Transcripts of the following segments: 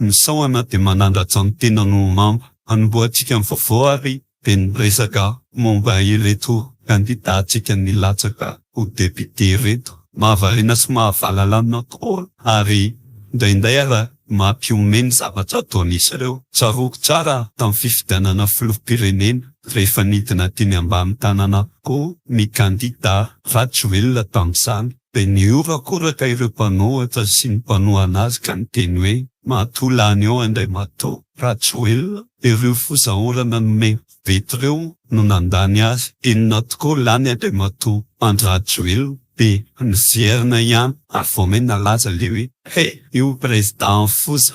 Misaona dia manandratra ny tenany ho mamba. Hanombohantsika ny vaovao ary dia ny resaka momba ireto kandidantsika nilatsaka ho député ireto. Mahavariana sy mahavalalana tokoa ary indraindray aza mampihomehy ny zavatra ataon'izy ireo. Tsaroako tsara tamin'ny fifidianana filoham-pirenena rehefa nidina teny ambany tanana avokoa ny kandida Rajoelina tamin'izany. Dia nihorakoraka ireo mpanohatra sy ny mpanohana azy ka niteny hoe, Matoa lany eo Andriamatoa Rajoelina, ireo fozaorana nomen'i Betty ireo no nandany azy, inona tokoa lany Andriamatoa Andry Rajoelina, dia niverina ihany ary vao may nalaza ilay hoe, He! io Président foza.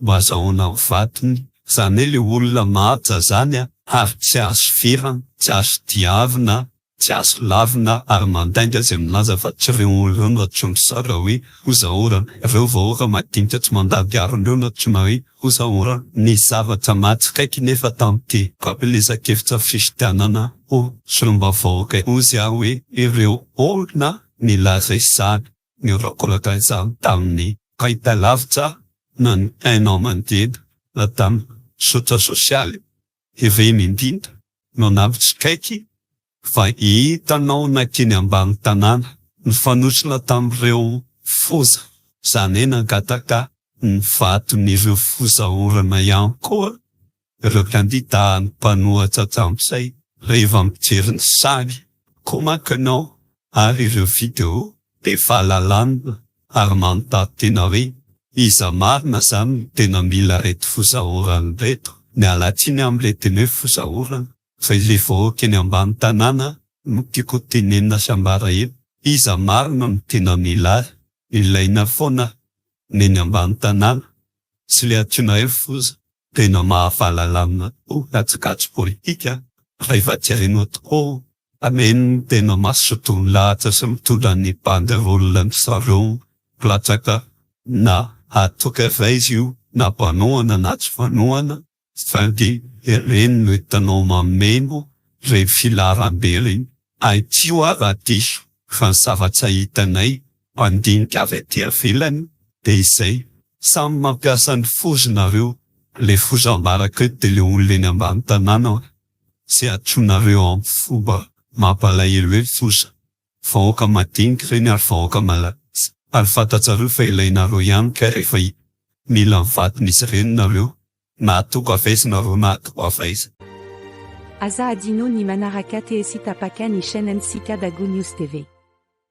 Mba azahoana ny vatony, izany hoe ilay olona mahaja izany ary tsy azo firana, tsy azo diavina, tsy azo lavina ary mandainga izay milaza fa tsy ireo olona ireo no antsoin'dry zareo hoe hozaorana, ireo vahoaka madinika tsy mandady harona ireo no antsoina hoe hozaorana. Nisy zavatra mahatsikaiky nefa tamin'ity fampielezan-kevitra fifidianana ho solombavambahoaka ity hozy aho hoe ireo olona nilaza izany, ny olon-kolaka izany tamin'ny fahitalavitra na ny haino aman-jery na tamin'ny zotra sosialy ireny indrindra no nampitsikaiky fa hitanao nankeny ambany tanàna nifanosona tamin'ireo foza izany hoe nangataka ny vaton'ireo foza orana ihany koa ireo kandida mpanohatra Jamsey rehefa mijery ny sary, comment que non, ary ireo video dia valalanina ary manondaty tena hoe iza marina zany no tena mila reto fozaorana reto, miala tsiny amin le teny hoe fozaorana fa ilay vahoaka eny ambany tanàna no tiako tenenina sy ambara eto, iza marina no tena mila azy, ilaina foana ny eny ambany tanàna sy le antsoina hoe foza. Tena mahafahalalamina tokoa kajikajy politika rehefa tsy hainao tokoa fa mino ny tena mazotoa milahatra sy mitondra ny banderole ny zareo mpilatsaka na hatoka iray izy io na mpanohana na tsy mpanohana saingy ireny no hitanao mameno ireny filaharambe ireny Aty hoa raha diso fa ny zavatra hitanay mpandinika avy aty avelany dia izay, samy mampiasa ny foza nareo, le foza ambaraka eo dia le olona eny ambany tanàna hoe ze atronareo aminy fomba mampalahelo hoe foza, vahoaka madinika ireny ary vahoaka malagasy ary fantatsareo fa ilainareo ihany kay rehefa mila ny vaton'izy ireny nareo Mahatoky avaiza nareo mahatoky avaiza. Aza adino ny manaraka TSy tapaka ny chaine ntsika Dago News TV.